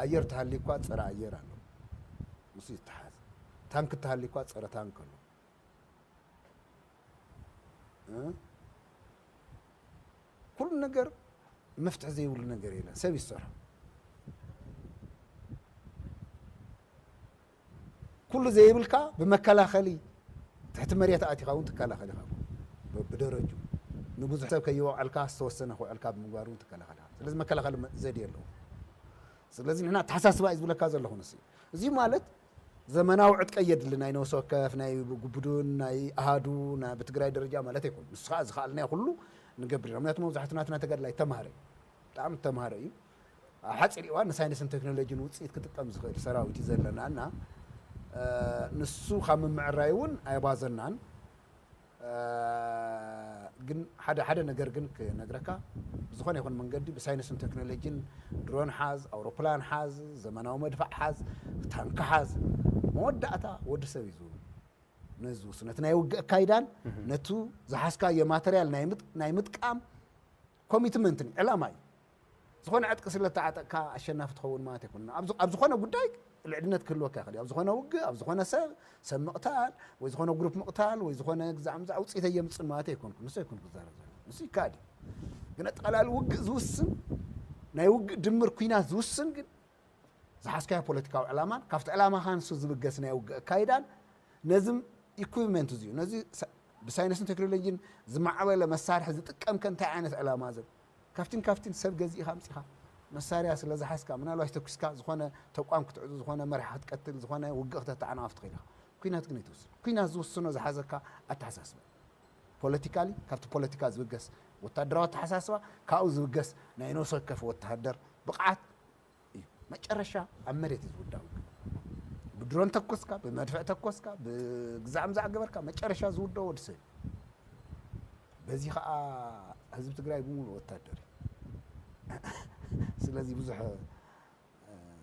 ኣየር ተሃልዩ እኳ ፀረ ኣየር ኣሎ ምስ ዝተሓዝ ታንክ ተሃልዩ እኳ ፀረ ታንክ ኣሎ ኩሉ ነገር መፍትሒ ዘይብሉ ነገር የለን ሰብ ይሰርሖ ኩሉ ዘይብልካ ብመከላኸሊ ትሕቲ መሬት ኣእቲኻ እውን ትከላኸል ኢኻ እኮ ብደረጅኡ ንብዙሕ ሰብ ከይወቕዐልካ ዝተወሰነ ክውዕልካ ብምግባር እውን ትከላኸል ኢኻ ስለዚ መከላኸሊ ዘድየ ኣለዎ ስለዚ ንሕና ኣተሓሳስባ እዩ ዝብለካ ዘለኹ ንስ እዚ ማለት ዘመናዊ ዕጥቀ የድሊ ናይ ነብሲ ወከፍ ናይ ጉቡዱን ናይ ኣሃዱ ናይ ብትግራይ ደረጃ ማለት ኣይኮኑ ንስ ከዓ ዝኸኣልናዮ ኩሉ ንገብር ኢና ምክንያቱ መብዛሕቱ ናትና ተጋድላይ ተማሃረ እዩ ብጣዕሚ ተማሃረ እዩ ኣብ ሓፂር እዋን ንሳይንስን ቴክኖሎጂን ውፅኢት ክጥቀም ዝኽእል ሰራዊት እዩ ዘለና እና ንሱ ካብ ምምዕራይ እውን ኣይባዘናን ግን ሓደ ሓደ ነገር ግን ክነግረካ ብዝኾነ ይኹን መንገዲ ብሳይንስን ቴክኖሎጂን ድሮን ሓዝ ኣውሮፕላን ሓዝ ዘመናዊ መድፋዕ ሓዝ ታንኪ ሓዝ መወዳእታ ወዲ ሰብ እዩ ዝውል ነዚ ዝውስን ነቲ ናይ ውግእ ኣካይዳን ነቱ ዝሓዝካዮ ማተርያል ናይ ምጥቃም ኮሚትመንትን ዕላማ እዩ ዝኾነ ዕጥቂ ስለ እተዓጠቅካ ኣሸናፊ ትኸውን ማለት ኣይኮነን። ኣብ ኣብ ዝኾነ ጉዳይ ልዕድነት ክህልወካ ይኽእል እዩ። ኣብ ዝኾነ ውግእ፣ ኣብ ዝኾነ ሰብ ሰብ ምቕታል ወይ ዝኾነ ግሩፕ ምቕታል ወይ ዝኾነ ግዛዕ ምዛዕ ውፅኢት ኣየምፅን ማለት ኣይኮንኩን። ንሱ ኣይኮንኩ ክዛረብ ዘሎ ንሱ ይከኣል እዩ። ግን ኣጠቓላሊ ውግእ ዝውስን ናይ ውግእ ድምር ኩናት ዝውስን ግን ዝሓዝካዮ ፖለቲካዊ ዕላማን ካብቲ ዕላማኻ ንሱ ዝብገስ ናይ ውግእ ኣካይዳን ነዚ ኢኩዊፕመንት እዚዩ ነዚ ብሳይንስን ቴክኖሎጂን ዝማዕበለ መሳርሒ ዝጥቀምከ እንታይ ዓይነት ዕላማ ዘብ ካብቲን ካብቲን ሰብ ገዚእኻ ኣምጺኻ መሳርያ ስለ ዝሓዝካ ምናልባሽ ተኲስካ ዝኾነ ተቋም ክትዕጹ ዝኾነ መራሒ ክትቀትል ዝኾነ ውግእ ክተተዓናቕፍ ትኽእል ኢኻ። ኲናት ግን ኣይትውስን። ኲናት ዝውስኖ ዝሓዘካ ኣተሓሳስባ እዩ። ፖለቲካሊ ካብቲ ፖለቲካ ዝብገስ ወታደራዊ ኣተሓሳስባ ካብኡ ዝብገስ ናይ ነብሲ ወከፍ ወተሃደር ብቕዓት እዩ መጨረሻ ኣብ መሬት እዩ ዝውዳእ ውግእ ብድሮን ተኮስካ ብመድፍዕ ተኮስካ ብግዛዕ ምዛዕ ገበርካ መጨረሻ ዝውደኦ ወዲ ሰብ በዚ ከዓ ህዝቢ ትግራይ ብምሉ ወታደር ስለዚ ብዙሕ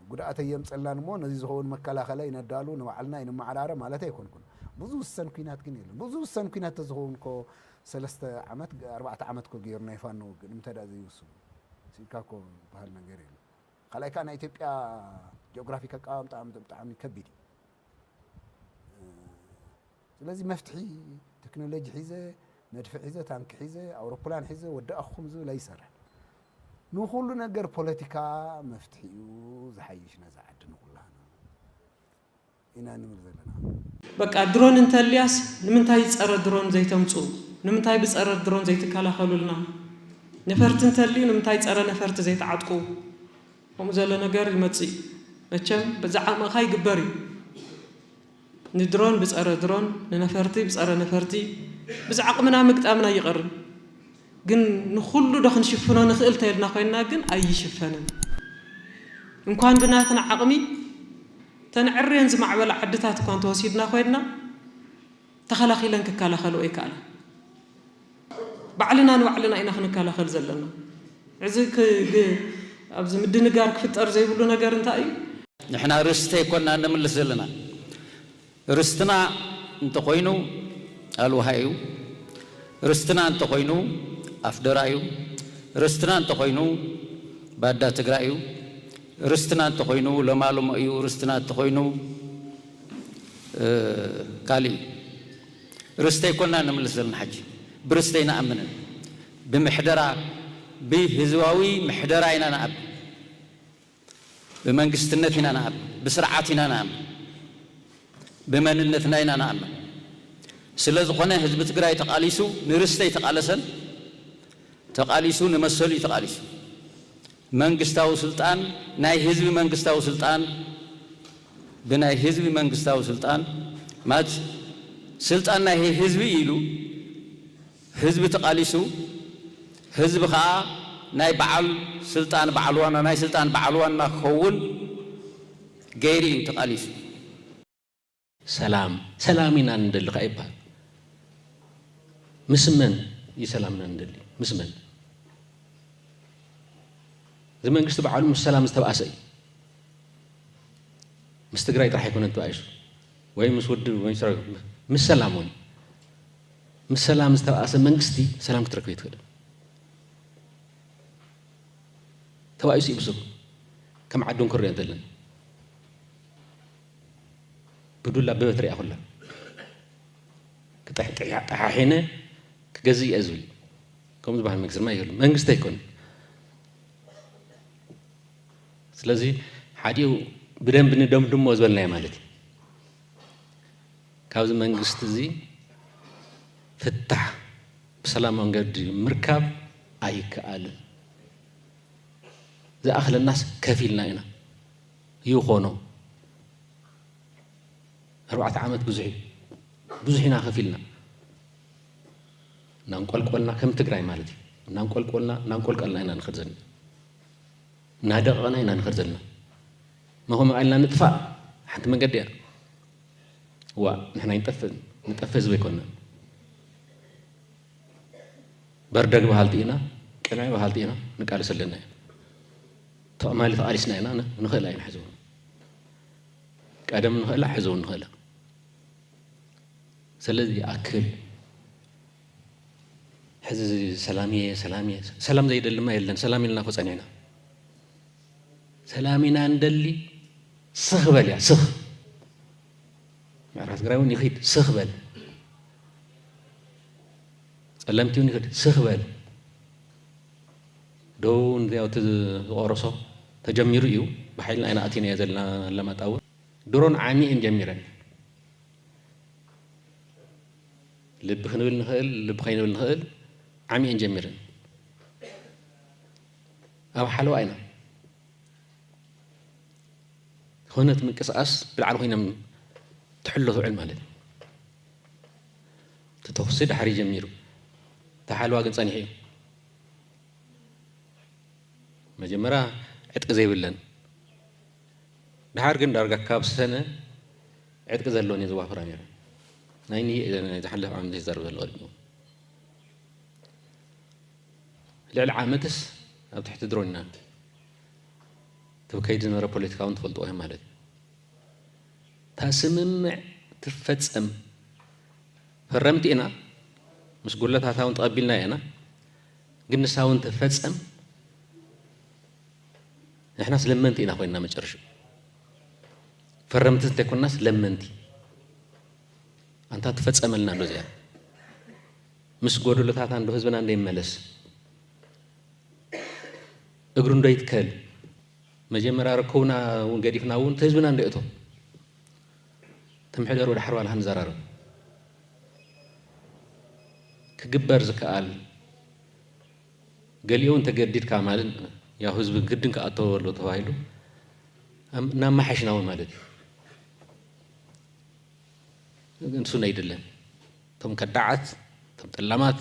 ጉድኣት የምፀላን እሞ ነዚ ዝኸውን መከላኸለ ይነዳሉ ንባዕልና ይንመዓራረ ማለት ኣይኮንኩን ብዙ ውሰን ኩናት ግን የለን ብዙ ውሰን ኩናት ተዝኸውን ኮ ሰለስተ ዓመት ኣርባዕተ ዓመት ኮ ገይሩ ናይ ፋኖ ውግእ ንምንታይ ዘይውስኑ ስኢንካ እኮ ዝብሃል ነገር የለን። ካልኣይ ከኣ ናይ ኢትዮጵያ ጂኦግራፊክ ኣቀማምጣ ብጣዕሚ ከቢድ እዩ። ስለዚ መፍትሒ ቴክኖሎጂ ሒዘ መድፊ ሒዘ ታንኪ ሒዘ ኣውሮፕላን ሒዘ ወዳእኹም ዝብል ኣይሰርሕን። ንኹሉ ነገር ፖለቲካ መፍትሒኡ ዝሓይሽ ነዛ ዓዲ ንኹላህና ኢና ንብል ዘለና። በቃ ድሮን እንተልያስ ንምንታይ ጸረ ድሮን ዘይተምጹ ንምንታይ ብጸረ ድሮን ዘይትከላኸሉልና ነፈርቲ እንተልዩ ንምንታይ ጸረ ነፈርቲ ዘይትዓጥቁ ከምኡ ዘለ ነገር ይመጽእ እዩ መቸም በዚ ዓቕምኻ ይግበር እዩ ንድሮን ብጸረ ድሮን ንነፈርቲ ብጸረ ነፈርቲ ብዚ ዓቕምና ምግጣምና ኣይቐርን ግን ንኹሉ ዶ ክንሽፍኖ ንኽእል ተልና ኮይንና ግን ኣይሽፈንን እንኳን ብናትና ዓቕሚ እተን ዕርየን ዝማዕበላ ዓድታት እኳ እንተወሲድና ኮይንና ተኸላኺለን ክከላኸልኦ ኣይከኣላን። ባዕልና ንባዕልና ኢና ክንከላኸል ዘለና። እዚ ኣብዚ ምድንጋር ክፍጠር ዘይብሉ ነገር እንታይ እዩ? ንሕና ርስቲ ኣይኮናን ነምልስ ዘለና። ርስትና እንተኾይኑ ኣልውሃ እዩ። ርስትና እንተኾይኑ ኣፍደራ እዩ። ርስትና እንተኾይኑ ባዳ ትግራይ እዩ። ርስትና እንተኾይኑ ለማልሞ እዩ ርስትና እንተኾይኑ ካልእ እዩ ርስተይ ኮና ንምልስ ዘለና ሓጂ ብርስቲ ኣይንኣምንን ብምሕደራ ብህዝባዊ ምሕደራ ኢና ንኣምን ብመንግስትነት ኢና ንኣምን ብስርዓት ኢና ንኣምን ብመንነትና ኢና ንኣምን ስለዝኾነ ህዝቢ ትግራይ ተቓሊሱ ንርስቲ ኣይተቓለሰን ተቓሊሱ ንመሰሉ እዩ ተቓሊሱ። መንግስታዊ ስልጣን ናይ ህዝቢ መንግስታዊ ስልጣን ብናይ ህዝቢ መንግስታዊ ስልጣን ማለት ስልጣን ናይ ህዝቢ ኢዩ ኢሉ ህዝቢ ተቃሊሱ ህዝቢ ከኣ ናይ በዓል ስልጣን በዓል ዋና ናይ ስልጣን በዓል ዋና ክኸውን ገይሩ ኢዩ ተቃሊሱ። ሰላም ሰላም ኢና ንደሊ ከኣ ይበሃል። ምስ መን እዩ ሰላምና ንደሊ? ምስ መን? እዚ መንግስቲ በዓሉ ምስ ሰላም ዝተብኣሰ እዩ። ምስ ትግራይ ጥራሕ ኣይኮነን ተባኢሱ ወይ ምስ ውድብ ወይ ምስ ሰራዊት፣ ምስ ሰላም እውን ምስ ሰላም ዝተብኣሰ መንግስቲ ሰላም ክትረክብ ኣይትኽእልን። ተባኢሱ እዩ ብስሩ ከም ዓዲ እንክርኦ ዘለና ግዱል ኣበበት ሪኣ ኩላ ጠሓሒነ ክገዝእ እየ ዝብል ከምኡ ዝበሃል መንግስቲ ድማ የሉ መንግስቲ ኣይኮነ ስለዚ ሓዲኡ ብደንቢ ንደምድሞ ዝበልናዮ ማለት እዩ ካብዚ መንግስቲ እዚ ፍታሕ ብሰላም መንገዲ ምርካብ ኣይከኣልን ዝኣኽለናስ ከፊልና ኢና ይኾኖ ኣርባዕተ ዓመት ብዙሕ እዩ ብዙሕ ኢና ከፊልና እናንቆልቆልና ከም ትግራይ ማለት እዩ እናንቆልቆልና እናንቆልቀልና ኢና ንኸድ ዘለና እናደቐቕና ኢና ንኸድ ዘለና መኸመ ቃልና ንጥፋእ ሓንቲ መንገዲ እያ ዋ ንሕና ይንጠፍእ ንጠፍእ ህዝቢ ኣይኮንና በርደግ በሃልቲ ኢና ቅንዕ በሃልቲ ኢና ንቃለስ ኣለና እዩ ትማሊ ተቓሊስና ኢና ንኽእላ ኢና ሕዚ እውን ቀደም ንኽእላ ሕዚ እውን ንኽእላ ስለዚ ይኣክል ሕዚ ሰላም እየ ሰላም እየ ሰላም ዘይደሊ ማ የለን ሰላም ኢልና ኮ ፀኒዕና ሰላም ኢና እንደሊ ስኽ በል እያ ስኽ ምዕራብ ትግራይ እውን ይኽድ ስኽ በል ፀለምቲ እውን ይኽድ ስኽ በል ዶ ንዚያው እቲ ዝቆረሶ ተጀሚሩ ኢዩ ብሓይልና ኢና ኣቲናዮ ዘለና ኣለማጣ ውን ድሮን ዓሚ ኢየን ጀሚረን ልቢ ክንብል ንክእል ልቢ ከይንብል ንክእል ዓሚ ኢየን ጀሚረን ኣብ ሓለዋ ኢና ዝኾነት ምንቅስቃስ ብልዓል ኮይኖም ትሕሎ ትውዕል ማለት እዩ እቲ ተኹሲ ድሓር ይጀሚሩ ተሓልዋ ግን ፀኒሑ እዩ መጀመርያ ዕጥቂ ዘይብለን ድሓር ግን ዳርጋ ካብ ሰነ ዕጥቂ ዘለወን እየ ዘዋፍራ ነረ ናይ ዝሓለፍ ዓመት ዝዛረብ ዘሎ ቀዲሙ ልዕሊ ዓመትስ ኣብ ትሕቲ ድሮን ኢና እቲ ከይዲ ዝነበረ ፖለቲካ እውን ትፈልጥዎ እዮም ማለት እዩ እታ ስምምዕ ትፈጸም ፈረምቲ ኢና፣ ምስ ጉድለታታ እውን ተቐቢልናያ ኢና፣ ግን ንሳ እውን ትፈጸም ንሕናስ ለመንቲ ኢና ኮይንና መጨረሽኡ ፈረምቲ እንተይኮንናስ ለመንቲ ኣንታ ትፈጸመልና እንዶ እዚኣ ምስ ጎደሎታታ እንዶ ህዝብና እንዶ ይመለስ እግሩ እንዶ ይትከል መጀመርያ ርክብና ውን ገዲፍና ውን ህዝብና እንድዩ እቶ ከም ሕደር ወደ ሓርባልሃ ንዘራረብ ክግበር ዝከኣል ገሊኡ ውን ተገዲድካ ማለት ያው ህዝቢ ግድን ክኣተዎ ኣሎ ተባሂሉ እናማሓሽና ውን ማለት እዩ ንሱ ነይድለን እቶም ከዳዓት እቶም ጠላማት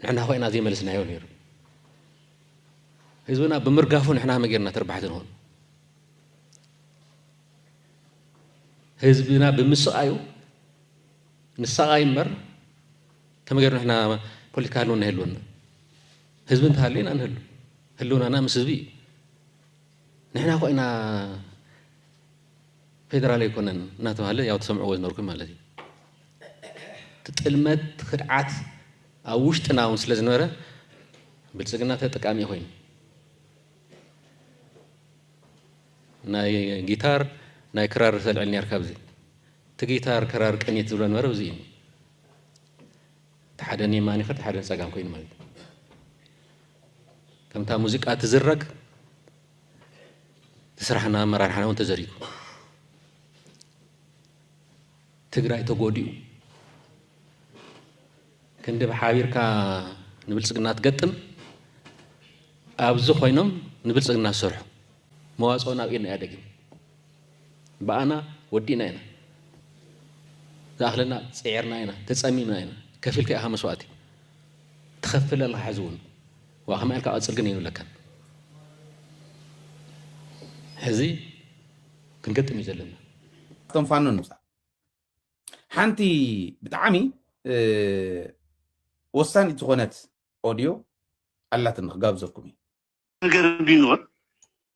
ንሕና ኮይና ዘይመለስናዮ ነይሩ ህዝብና ብምርጋፉ ንሕና ከመይ ጌርና ተርባሕቲ ንኹን? ህዝብና ብምስቓዩ ንሳቓይ እምበር ከመይ ጌርና ንሕና ፖለቲካ ህልውና ይህልወና? ህዝቢ እንተሃልዩ ኢና ንህሉ። ህልውናና ምስ ህዝቢ እዩ። ንሕና እኮ ኢና ፌደራል ኣይኮነን እናተባህለ ያው ትሰምዕዎ ዝነበርኩም ማለት እዩ። እቲ ጥልመት እቲ ክድዓት ኣብ ውሽጥና እውን ስለ ዝነበረ ብልፅግና ተጠቃሚ ኮይኑ ናይ ጊታር ናይ ክራር ተልዕል ነርካ ብዚ እቲ ጊታር ክራር ቅኒት ዝብሎ ነበረ ብዚ እዩ እቲ ሓደ ንየማን ይኸድ ሓደ ንፀጋም ኮይኑ ማለት ከምታ ሙዚቃ ትዝረግ እቲ ስራሕና ኣመራርሓና እውን ተዘሪጉ ትግራይ ተጎዲኡ ክንዲ ብሓቢርካ ንብልፅግና ትገጥም ኣብዚ ኮይኖም ንብልፅግና ዝሰርሑ መዋፅኦ ናብ ኢድና እያ ደጊም ብኣና ወዲእና ኢና ዝኣኽለና ፅዒርና ኢና ተፀሚምና ኢና ከፊልካ ኢኻ መስዋእቲ ትኸፍል ኣለኻ ሕዚ እውን ዋእ ከመይ ኢልካ ቀጽል ግን የብለካን ሕዚ ክንገጥም እዩ ዘለና። ካብቶም ፋኖ ንውፃእ ሓንቲ ብጣዕሚ ወሳኒት ዝኾነት ኦድዮ ኣላትኒ ክጋብዘኩም እዩ ነገር ቢኖር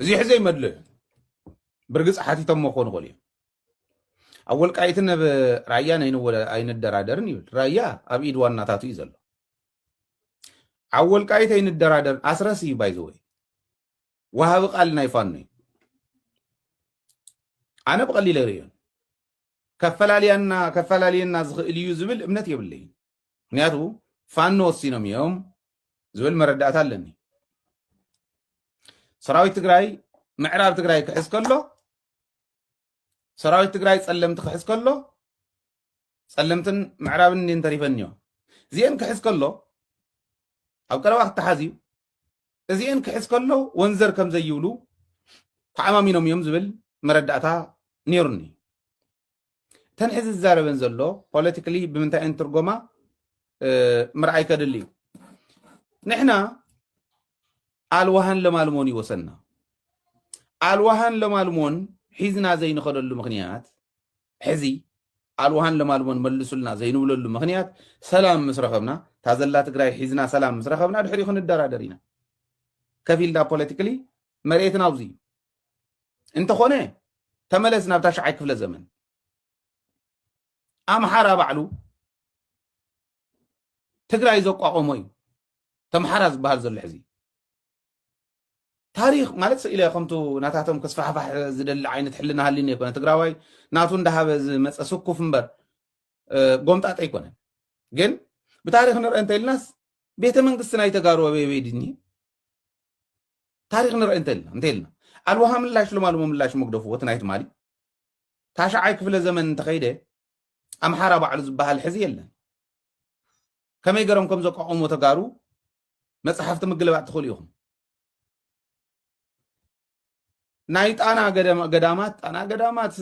እዚ ሕዘ ይመድሎ እዩ ብርግፅ ሓቲቶሞ ክኾኑ ይኽእሉ እዮም ኣብ ወልቃይትን ኣብ ራያን ኣይንደራደርን ይብል ራያ ኣብ ኢድ ዋናታቱ እዩ ዘሎ ኣብ ወልቃይት ኣይንደራደር ኣስረስ እዩ ባይዘወይ ወሃቢ ቃል ናይ ፋኖ እዩ ኣነ ብቐሊለ ርእዮን ከፈላልያና ከፈላልየና ዝኽእል እዩ ዝብል እምነት የብለይን ምክንያቱ ፋኖ ወሲኖም እዮም ዝብል መረዳእታ ኣለኒ ሰራዊት ትግራይ ምዕራብ ትግራይ ክሕዝ ከሎ ሰራዊት ትግራይ ፀለምቲ ክሕዝ ከሎ ፀለምትን ምዕራብን እንዲን ተሪፈን እዮም እዚአን ክሕዝ ከሎ ኣብ ቀረባ ክተሓዝ እዩ እዚአን ክሕዝ ከሎ ወንዘር ከም ዘይብሉ ተዓማሚኖም እዮም ዝብል መረዳእታ ነይሩኒ እተን ሕዚ ዝዛረበን ዘሎ ፖለቲካሊ ብምንታይ እየን ትርጎማ ምርኣይ ከድሊ እዩ ንሕና ኣልዋሃን ለማልሞን ይወሰና ኣልዋሃን ለማልሞን ሒዝና ዘይንኸደሉ ምክንያት ሕዚ ኣልዋሃን ለማልሞን መልሱልና ዘይንብለሉ ምክንያት ሰላም ምስ ረኸብና እታ ዘላ ትግራይ ሒዝና ሰላም ምስ ረኸብና ድሕሪኡ ክንደራደር ኢና ከፊልና ፖለቲካሊ መሬትና ኣብዚ እዩ እንተኾነ ተመለስ ናብ ታሽዓይ ክፍለ ዘመን ኣምሓራ ባዕሉ ትግራይ ዘቋቆሞ እዩ ተምሓራ ዝበሃል ዘሎ ሕዚ ታሪክ ማለት ስኢለ ከምቱ ናታቶም ከስፋሕፋሕ ዝደሊ ዓይነት ሕልና ሃሊኒ ኣይኮነ ትግራዋይ ናቱ እንዳሃበ ዝመፀ ስኩፍ እምበር ጎምጣጠ ኣይኮነን ግን ብታሪክ ንርአ እንተኢልናስ ቤተ መንግስቲ ናይ ተጋሩ ኣበይ ድኒ ታሪክ ንርኢ እንተልና እንተልና ኣልዋሃ ምላሽ ልማልሞ ምላሽ መግደፉ ወቲ ናይ ትማሊ ታሽዓይ ክፍለ ዘመን እንተኸይደ ኣምሓራ ባዕሉ ዝበሃል ሕዚ የለን ከመይ ገሮም ከም ዘቋቆሞ ተጋሩ መፅሓፍቲ ምግልባጥ ትኽእሉ ኢኹም ናይ ጣና ገዳማት ጣና ገዳማት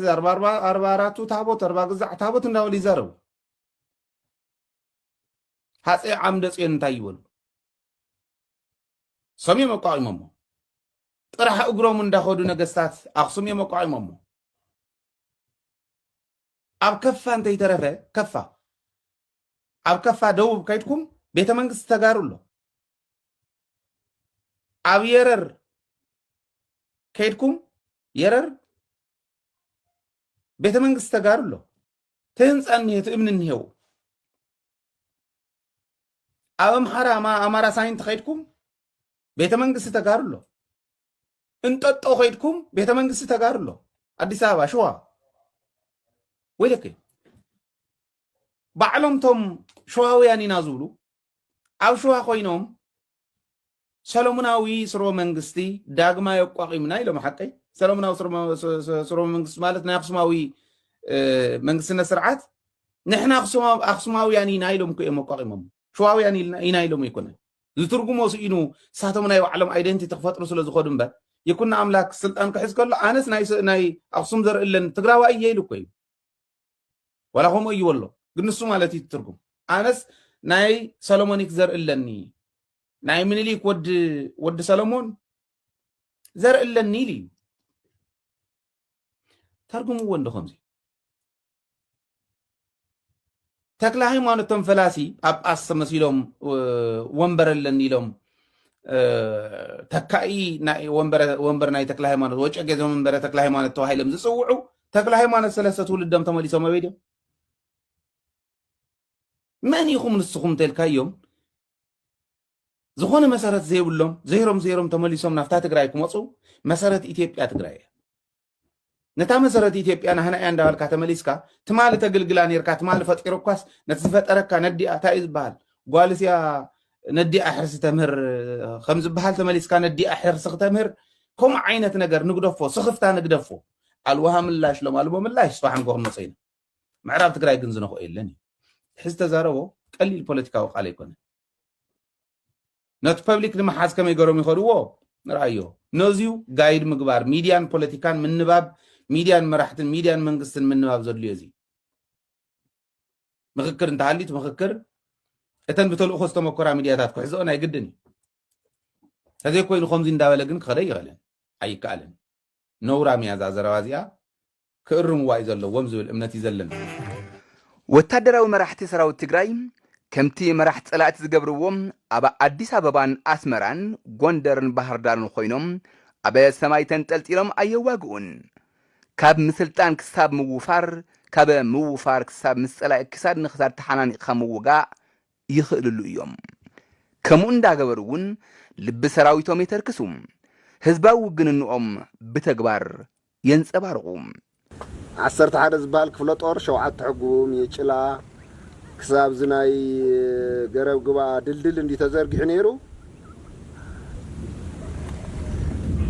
ኣርባ ኣራቱ ታቦት ኣርባ ግዛዕ ታቦት እንዳበሉ ይዛረቡ ሃፀይ ዓምደ ፅዮን እንታይ ይበሉ ሰም እዮም ኣቋቂሞሞ ጥራሕ እግሮም እንዳኸዱ ነገስታት ኣክሱም እዮም ኣቋቂሞሞ ኣብ ከፋ እንተይተረፈ ከፋ ኣብ ከፋ ደቡብ ከይድኩም ቤተ መንግስቲ ተጋሩ ኣሎ ኣብ የረር ከይድኩም የረር ቤተ መንግስቲ ተጋሩ ኣሎ እቲ ህንፃ እኒሄ እቲ እምኒ እኒሄው ኣብ ኣምሓራ ኣማራ ሳይንት ከይድኩም ቤተ መንግስቲ ተጋሩ ኣሎ እንጠጦ ከይድኩም ቤተ መንግስቲ ተጋሩ ኣሎ ኣዲስ ኣበባ ሽዋ ወይለከ ባዕሎም ቶም ሸዋውያን ኢና ዝብሉ ኣብ ሸዋ ኮይኖም ሰሎሙናዊ ስርወ መንግስቲ ዳግማይ ኣቋቒምና ኢሎም ሓቀይ ሰሎሙናዊ ስርወ መንግስቲ ማለት ናይ ኣክሱማዊ መንግስትነት ስርዓት ንሕና ኣክሱማውያን ኢና ኢሎም እኮ እዮም ኣቋቒሞም ሸዋውያን ኢና ኢሎም ኣይኮነ ዝትርጉሞ ስኢኑ ንሳቶም ናይ ባዕሎም ኣይደንቲቲ ክፈጥሩ ስለ ዝኸዱ እምበር ይኩና ኣምላክ ስልጣን ክሕዝ ከሎ ኣነስ ናይ ኣክሱም ዘርኢ ኣለን ትግራዋይ እየ ኢሉ እኮ እዩ ዋላ ከምኡ እዩ ወሎ ግን ንሱ ማለት እዩ ትርጉም ኣነስ ናይ ሰለሞኒክ ዘርኢ ኣለኒ ናይ ምኒልክ ወዲ ወዲ ሰለሞን ዘርኢ ኣለኒ ኢሉ እዩ ተርጉምዎ እንዶ ከምዚ ተክለሃይማኖት እቶም ፈላሲ ጳጳስ ተመሲሎም ወንበር ኣለኒ ኢሎም ተካኢ ወንበር ናይ ተክለ ሃይማኖት ወጨጌ ዘመንበረ ተክለ ሃይማኖት ተባሂሎም ዝፅውዑ ተክለ ሃይማኖት ሰለስተ ትውልዶም ተመሊሶም ኣበይ ድዮም? መን ኢኹም ንስኹም እንተልካዮም ዝኾነ መሰረት ዘይብሎም ዘይሮም ዘይሮም ተመሊሶም ናብታ ትግራይ ክመፁ መሰረት ኢትዮጵያ ትግራይ እያ። ነታ መሰረት ኢትዮጵያ ናህና እያ እንዳበልካ ተመሊስካ ትማሊ ተግልግላ ነርካ ትማሊ ፈጢሩኳስ ነቲ ዝፈጠረካ ነዲኣ እንታይ እዩ ዝበሃል ጓልስ እያ ነዲኣ ሕርሲ ተምህር ከም ዝበሃል ተመሊስካ ነዲኣ ሕርሲ ክተምህር ከምኡ ዓይነት ነገር ንግደፎ ስኽፍታ ንግደፎ ኣልዋሃ ምላሽ ሎም ኣልቦ ምላሽ ስባሕ ንጎ ክንመፀ ኢና ምዕራብ ትግራይ ግን ዝነኽኦ የለን እዩ ሕዚ ተዛረቦ ቀሊል ፖለቲካዊ ቃል ኣይኮነ ነቲ ፐብሊክ ንምሓዝ ከመይ ገሮም ይኸድዎ ንርኣዮ ነዚዩ ጋይድ ምግባር ሚድያን ፖለቲካን ምንባብ ሚድያን መራሕትን ሚድያን መንግስትን ምንባብ ዘድልዮ እዚ ምክክር እንተሃሊት ምክክር እተን ብተልእኮ ዝተመኮራ ሚድያታት ክሕዝኦ ናይ ግድን እዩ ተዘይኮይኑ ከምዚ እንዳበለ ግን ክኸደ ይኽእልን ኣይከኣልን ነውራም እያ እዛ ዘረባ እዚኣ ክእርምዋ እዩ ዘለዎም ዝብል እምነት እዩ ዘለኒ። ወታደራዊ መራሕቲ ሰራዊት ትግራይ ከምቲ መራሕቲ ፀላእቲ ዝገብርዎ ኣብ ኣዲስ ኣበባን ኣስመራን ጎንደርን ባህርዳርን ኾይኖም ኣብ ሰማይ ተንጠልጢሎም ኣየዋግኡን። ካብ ምስልጣን ክሳብ ምውፋር፣ ካብ ምውፋር ክሳብ ምስ ፀላኢ ክሳድ ንክሳድ ተሓናኒቕኻ ምውጋእ ይኽእልሉ እዮም። ከምኡ እንዳገበሩ እውን ልቢ ሰራዊቶም የተርክሱ፣ ህዝባዊ ውግንንኦም ብተግባር የንጸባርቑ። ዓሰርተ ሓደ ዝብሃል ክፍለ ጦር ሸውዓተ ሕጉም የጭላ ክሳብ እዚ ናይ ገረብ ግባ ድልድል እንድዩ ተዘርጊሑ ነይሩ።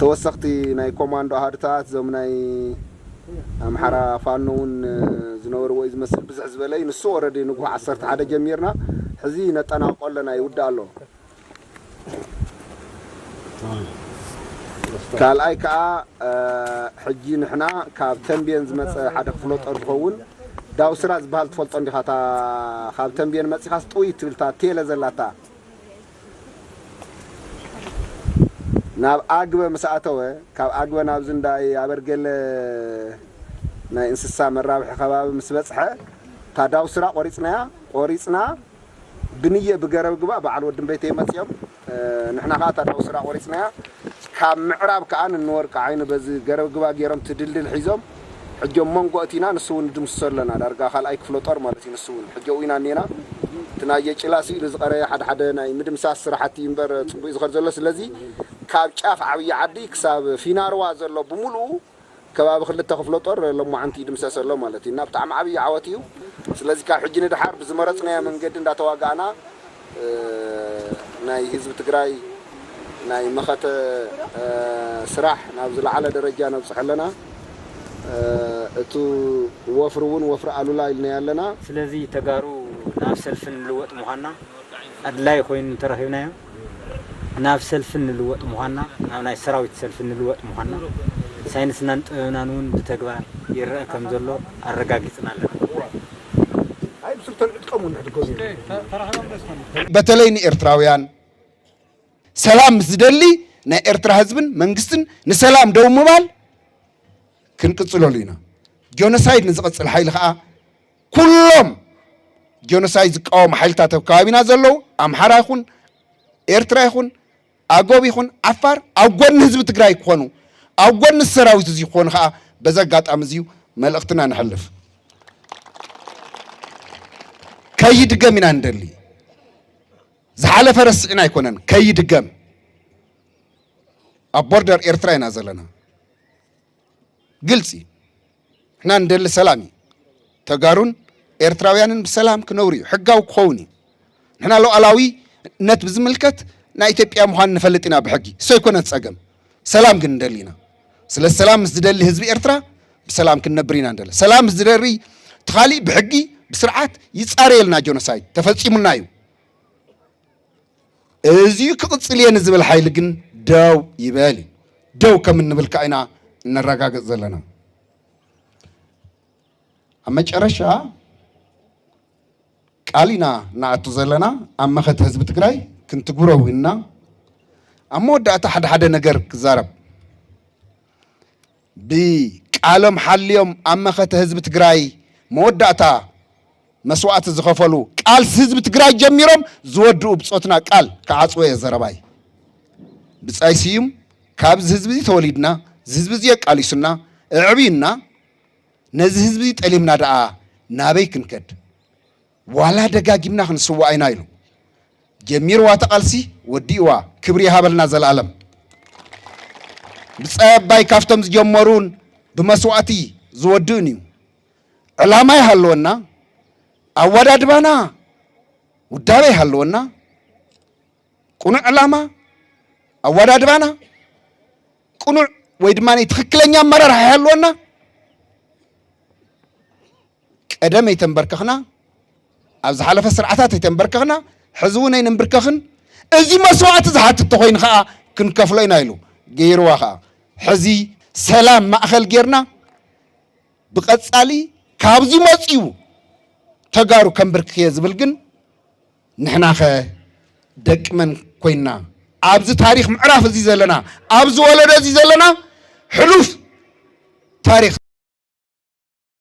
ተወሰኽቲ ናይ ኮማንዶ ኣሃዱታት እዞም ናይ ኣምሓራ ፋኖ እውን ዝነበርዎ እዩ ዝመስል ብዝሕ ዝበለ እዩ ንሱ ኦረዲ ንጉሆ ዓሰርተ ሓደ ጀሚርና ሕዚ ነጠናቕቆ ኣለና ይውዳእ ኣሎ። ካልኣይ ከኣ ሕጂ ንሕና ካብ ተምቤን ዝመጸ ሓደ ክፍለጦር ዝኸውን ዳውስራ ዝበሃል ትፈልጦ እንዲኻ እታ ካብ ተምቤን መጺኻስ ጥውይ እትብል እታ ቴለ ዘላታ ናብ ኣግበ ምስ ኣተወ ካብ ኣግበ ናብዚ እንዳ ኣበርገለ ናይ እንስሳ መራብሒ ከባቢ ምስ በጽሐ እታ ዳውስራ ቆሪጽናያ ቆሪጽና ብንየ ብገረብ ግባ በዓል ወድን ቤተይ መጺኦም ንሕና ከኣ እታ ዳውስራ ቆሪጽናያ ካብ ምዕራብ ከኣ ንንወርቂ ዓይኒ በዚ ገረብ ግባ ጌሮም እቲ ድልድል ሒዞም ሕጂ ኣብ መንጎ ኣእቲና ንሱ ውን ንድምስሶ ኣለና ዳርጋ ካልኣይ ክፍለ ጦር ማለት እዩ ንሱ ውን ሕጂ ኣብኡ ኢና እኔና እቲ ናይ የጭላ ስኢሉ ዝቀረየ ሓደ ሓደ ናይ ምድምሳስ ስራሕቲ እዩ እምበር ጽቡቅ እዩ ዝኸድ ዘሎ ስለዚ ካብ ጫፍ ዓብዪ ዓዲ ክሳብ ፊናርዋ ዘሎ ብምሉኡ ከባቢ ክልተ ክፍለ ጦር ሎማዓንቲ ይድምሰስ ኣሎ ማለት እዩ እና ብጣዕሚ ዓብዪ ዓወት እዩ። ስለዚ ካብ ሕጂ ንደሓር ብዝመረፅናዮ መንገዲ እንዳተዋጋእና ናይ ህዝቢ ትግራይ ናይ መኸተ ስራሕ ናብ ዝለዓለ ደረጃ ነብፅሖ ኣለና። እቱ ወፍሪ እውን ወፍሪ ኣሉላ ኢልናዮ ኣለና። ስለዚ ተጋሩ ናብ ሰልፊ ንልወጥ ምዃንና ኣድላዪ ኮይኑ እንተረኺብናዮ ናብ ሰልፊ እንልወጥ ምዃንና፣ ናብ ናይ ሰራዊት ሰልፊ እንልወጥ ምዃንና፣ ሳይንስናን ጥበብናን እውን ብተግባር ይረኣ ከም ዘሎ ኣረጋጊጽና ኣለና። በተለይ ንኤርትራውያን ሰላም ምስ ዝደሊ ናይ ኤርትራ ህዝብን መንግስትን ንሰላም ደው ምባል ክንቅጽለሉ ኢና። ጆኖሳይድ ንዝቐጽል ሓይሊ ከኣ ኩሎም ጆኖሳይድ ዝቃወሙ ሓይልታት ኣብ ከባቢና ዘለዉ ኣምሓራ ይኹን ኤርትራ ይኹን ኣጎብ ይኹን ዓፋር ኣብ ጎኒ ህዝቢ ትግራይ ክኾኑ ኣብ ጎኒ ሰራዊት እዚ ክኾኑ ከዓ በዚ ኣጋጣሚ እዚዩ መልእኽትና ንሕልፍ ከይድገም ኢና ንደሊ ዝሓለፈ ረስዕና ኣይኮነን ከይድገም ኣብ ቦርደር ኤርትራ ኢና ዘለና ግልፂ ንሕና ንደሊ ሰላም እዩ። ተጋሩን ኤርትራውያንን ብሰላም ክነብሩ እዩ፣ ሕጋዊ ክኸውን እዩ። ንሕና ሉዓላዊነት ብዝምልከት ናይ ኢትዮጵያ ምዃን ንፈልጥ ኢና ብሕጊ፣ እሱ ኣይኮነን ጸገም። ሰላም ግን ንደሊ ኢና። ስለዚ ሰላም ምስ ዝደሊ ህዝቢ ኤርትራ ብሰላም ክንነብር ኢና ንደሊ። ሰላም ምስ ዝደሪ እቲ ኻሊእ ብሕጊ ብስርዓት ይጻረየልና፣ ጆኖሳይድ ተፈጺሙና እዩ። እዚዩ ክቕፅል እየ ንዝብል ሓይሊ ግን ደው ይበል እዩ። ደው ከም እንብል ከዓ ኢና እነረጋግፅ ዘለና። ኣብ መጨረሻ ቃል ኢና እናኣቱ ዘለና ኣብ መኸተ ህዝቢ ትግራይ ክንትግብሮ ውንና ኣብ መወዳእታ ሓደ ሓደ ነገር ክዛረብ ብቃሎም ሓልዮም ኣብ መኸተ ህዝቢ ትግራይ መወዳእታ መስዋእቲ ዝኸፈሉ ቃልሲ ህዝቢ ትግራይ ጀሚሮም ዝወድኡ ብፆትና ቃል ክዓፅዎ እየ ዘረባይ። ብፃይ ስዩም ካብ እዚ ህዝቢ እዚ ተወሊድና እዚ ህዝቢ እዚ ኣቃሊሱና እዕብዩና ነዚ ህዝቢ እዚ ጠሊምና ደኣ ናበይ ክንከድ? ዋላ ደጋጊምና ክንስዋእ ኢና ኢሉ ጀሚርዋ እቲ ቃልሲ ወዲእዋ ክብሪ ይሃበልና ዘልኣለም። ብጻይ ኣባይ ካብቶም ዝጀመሩን ብመስዋእቲ ዝወድእን እዩ። ዕላማ ይሃልወና፣ ኣወዳድባና ውዳበ ይሃልወና፣ ቅኑዕ ዕላማ ኣወዳድባና ቅኑዕ ወይ ድማ ትክክለኛ ኣመራርሓ ይሃልወና። ቀደም ኣይተንበርከኽና፣ ኣብ ዝሓለፈ ስርዓታት ኣይተንበርከኽና፣ ሕዚ እውን ኣይንንብርከኽን፣ እዚ መስዋእቲ ዝሓትት እንተኾይኑ ከዓ ክንከፍሎ ኢና ኢሉ። ገይርዋ ከዓ ሕዚ ሰላም ማእኸል ጌርና ብቐፃሊ ካብ ዝመፅኡ ተጋሩ ከንብርክኽ እየ ዝብል ግን ንሕናኸ ደቂ መን ኮይንና ኣብዚ ታሪክ ምዕራፍ እዚ ዘለና ኣብዚ ወለዶ እዚ ዘለና ሕሉፍ ታሪክ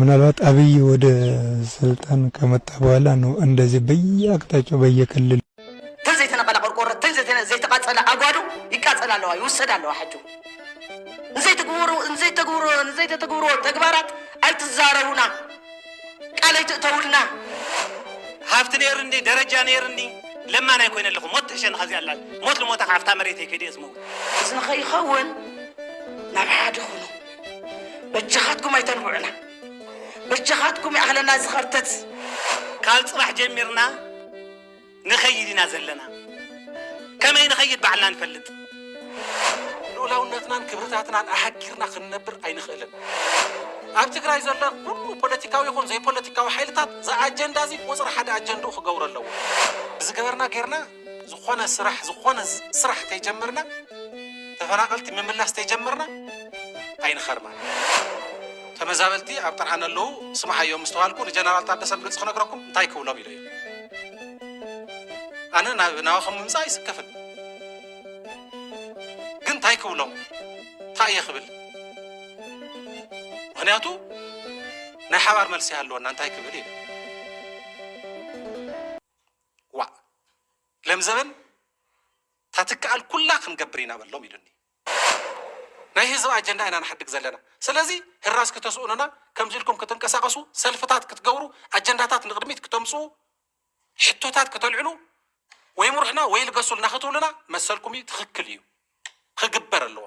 ምናልባት ኣብይ ወደ ስልጣን ከመጣ በኋላ ነው እንደዚህ በየአቅጣጫው በየክልሉ። ተን ዘይተነቀላ ቆርቆሮ ተን ዘይተቃፀላ ኣጓዱ ይቃፀል ኣለዋ ይውሰድ ኣለዋ ሕጁ ንዘይትግብሩ ንዘይተግብሩ ንዘይተተግብሩ ተግባራት ኣይትዛረቡና ቃል ኣይትእተውልና ሃብቲ ነይርኒ ደረጃ ነይርኒ ለማን ኣይኮይነ ኣለኹ ሞት ትሕሸኒ ካብዚኣ ኣላ ሞት ልሞታ ካብታ መሬተይ ከይደ እየ ዝመውት እዚ ንኸይኸውን ናብ ሓደ ኹኑ በጃኻትኩም ኣይተንብዑና በጃኻትኩም ይኣኽለና እዚ ኸርተት ካብ ጽባሕ ጀሚርና ንኸይድ ኢና ዘለና ከመይ ንኸይድ ባዕልና ንፈልጥ ልኡላውነትናን ክብርታትናን ኣሃጊርና ክንነብር ኣይንኽእልን። ኣብ ትግራይ ዘሎ ኩሉ ፖለቲካዊ ይኹን ዘይፖለቲካዊ ሓይልታት እዚ ኣጀንዳ እዚ ቁፅሪ ሓደ ኣጀንድኡ ክገብሮ ኣለዎ። ብዝገበርና ጌርና ዝኾነ ስራሕ ዝኾነ ስራሕ ተይጀምርና ተፈናቀልቲ ምምላስ ተይጀምርና ኣይንኸርማን ተመዛበልቲ ኣብ ጥርዓን ኣለዉ ስምዓዮ ምስ ተባልኩ ንጀነራል ታደሰ ብግልፂ ክነግረኩም እንታይ ክብሎም ኢለዮ ኣነ ናብ ናባኹም ምምፃእ ኣይስከፍን ግን እንታይ ክብሎም እንታይ እየ ክብል ምክንያቱ ናይ ሓባር መልሲ ኣለወና እንታይ ክብል ኢለ ዋእ ለምዘበን ታትከኣል ኩላ ክንገብር ኢና በሎም ኢሉኒ ናይ ህዝብ ኣጀንዳ ኢና ንሓድግ ዘለና ስለዚ ህራስ ክተስኡኑና ከምዚ ኢልኩም ክትንቀሳቀሱ ሰልፍታት ክትገብሩ ኣጀንዳታት ንቅድሚት ክተምፅኡ ሕቶታት ክተልዕሉ ወይ ምሩሕና ወይ ልገሱልና ክትብሉና መሰልኩም እዩ ትክክል እዩ ክግበር ኣለዎ